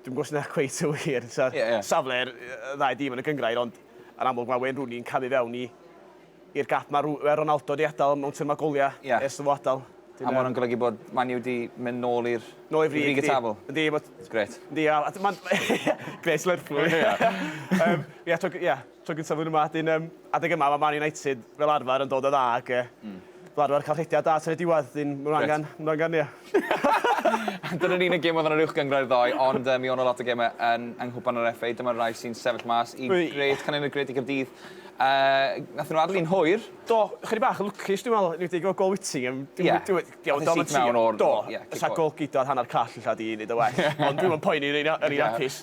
Dwi'm yn gwybod os dyna cweit yn wir. Safle'r ddau dîm yn y gynghrair, ond yn amlwg mae Wayne Rooney yn camu fewn i i'r gap mae Ronaldo wedi adael mewn termau goliau ers iddo fo adael. A mae hwnna'n golygu bod Man U wedi mynd nôl i'r nôl i'r frig y tabl? Yndi. Gret. Yndi, a mae'n... Gret Lerpwl. Ie, ie. Tro gyntaf flwyddyn yma, wedyn yym adeg yma mae Man United fel arfer yn dod yn dda ac yy hmm. fel arfer cael rhediad da tan y diwedd, wedyn maen nhw angen, maen nhw angen, ie. Dyna'r unig gêm oedd yn yr uwch gyngrau ddoe, ond um, mi o'n o lot o gemau yn, yng Nghwpan yr FA. Dyma'r rai sy'n sefyll mas i gred, canyn y gred i Gyrdydd. Uh, nath nhw adlu'n hwyr. Do, chydig bach yn lwcus, dwi'n meddwl, ni'n dweud gol Whittingham. Ie. Oedd y sit mewn o'r... Do, sa gol gyda hanner call illa di i wneud y well. Ond dwi'n meddwl poeni yn un apus.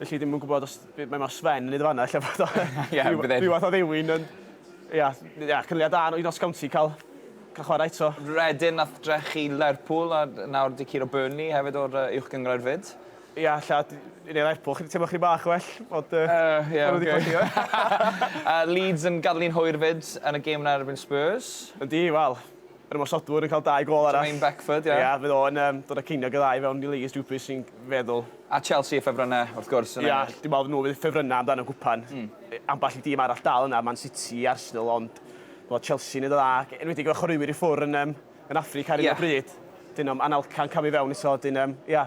Felly ddim yn gwybod os... Be mae Sven yn neud yn fan 'na ella bod o ryw fath o ddewin ond ia ia cynulliad da i Notts County ca'l ca'l chwara eto. Reading nath drechu Lerpwl a nawr 'di curo Burnley hefyd o'r yy Uwch Gynghrair 'fyd. Ia ella d- i ni Lerpwl chydig teimlo chydig bach well ond yy... Yy ia oce. ...ma' n'w 'di colli... A Leeds yn gadel hi'n hwyr 'fyd yn y gêm 'na erbyn Spurs. Yndi wel Yr ymosodwr yn cael dau gôl arall. Jermaine Beckford, ie. Ia, fydd o'n yym dod â ceiniog y ddau i fewn i Louise Dupus sy'n feddwl. A Chelsea a Ffefrynne, wrth gwrs, yn ennill. Ia, dwi'n meddwl fod nhw fydd ffefrynnau amdan y gwpan. Ambell i dîm arall dal yna, Man City i Arsenal, ond bod Chelsea'n neud yn dda, ac enwedig efo chwaraewyr i ffwr yn yym yn Affrica ar hyn o bryd. Dyn nhw'm Anelka yn camu fewn eto, dyn yym ia.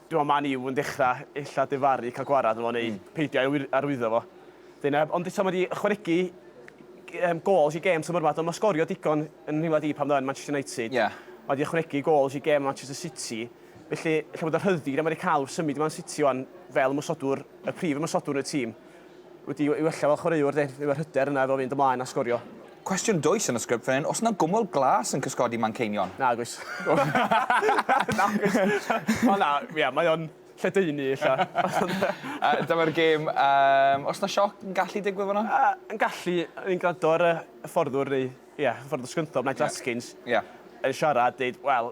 Dwi me'wl Man U yn dechra ella difaru ca'l gwarad arno fo neu peidio a'i wyr- arwyddo fo. Wedyn yym ond eto ma' 'di ychwanegu g- yym gôls i gêm tymor 'ma do ma' sgorio digon yn nhimad i pan o'dd o yn Manchester United. Ie. Ma' 'di ychwanegu gôls i gêm Manchester City felly ella bod y rhyddid a ma' 'di ca'l wrth symud i Man City ŵan fel ymosodwr y prif ymosodwr yn y tîm wedi ei wella fel chwaraewr de, efo'r hyder yna efo fynd ymlaen a sgorio. Cwestiwn dwys yn y sgript fan hyn, oes 'na gwmwl glas yn cysgodi Manceinion? Nag oes. Nag oes. Ond na, ia, mae o'n lledaenu ella. Yy dyma'r gêm, yym, oes 'na sioc yn gallu digwydd fan'na? Yy yn gallu, o'n i'n gwrando ar y hyfforddwr neu, ia, hyfforddwr Scunthorpe, Nigel Askins... Ia. ...yn siarad, deud, wel,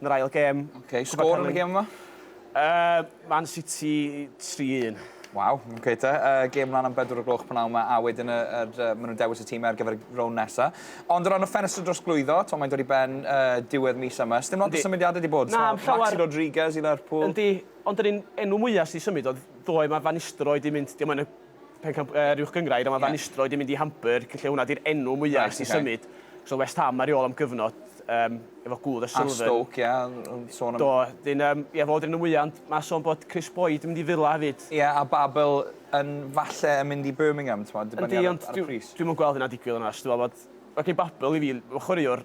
yn yr ail gêm. Ok, sgôr yn y gêm yma? Yy, Man City 3-1. Waw, ok te. Uh, gêm mlaen am bedwr o gloch pan yma, a wedyn y, y, y, maen nhw'n dewis y tîm ar gyfer y rown nesa. Ond o ran y ffenestr dros glwyddo, to, mae'n dod i ben uh, diwedd mis yma. Sdim lot o symudiadau wedi bod. Na, so, llawer... Maxi Rodriguez i Lerpwl. Yndi, ond yr un enw mwyaf sydd wedi symud oedd ddoe mae Van Nistelrooy wedi mynd, diolch yn Pen Campwr yr Uwch Gynghrair a ma' Van Nistelrooy 'di mynd i Hamburg lle hwnna 'di'r enw mwya ers i symud. So West Ham ar ei ôl am gyfnod yym efo gwdd a Sullivan. A Stoke ia yn sôn am... Do 'dyn yym ia fo 'di'r enw mwya ond ma' son bod Kris Boyd yn mynd i Villa hefyd. Ia a Babel yn falle yn mynd i Birmingham t'mod dibynnu ar y ar y pris. Yndi ond dwi dwi'm yn gweld hynna'n digwydd onast dwi me'wl bod... Ocê Babel i fi ma' chwaraewr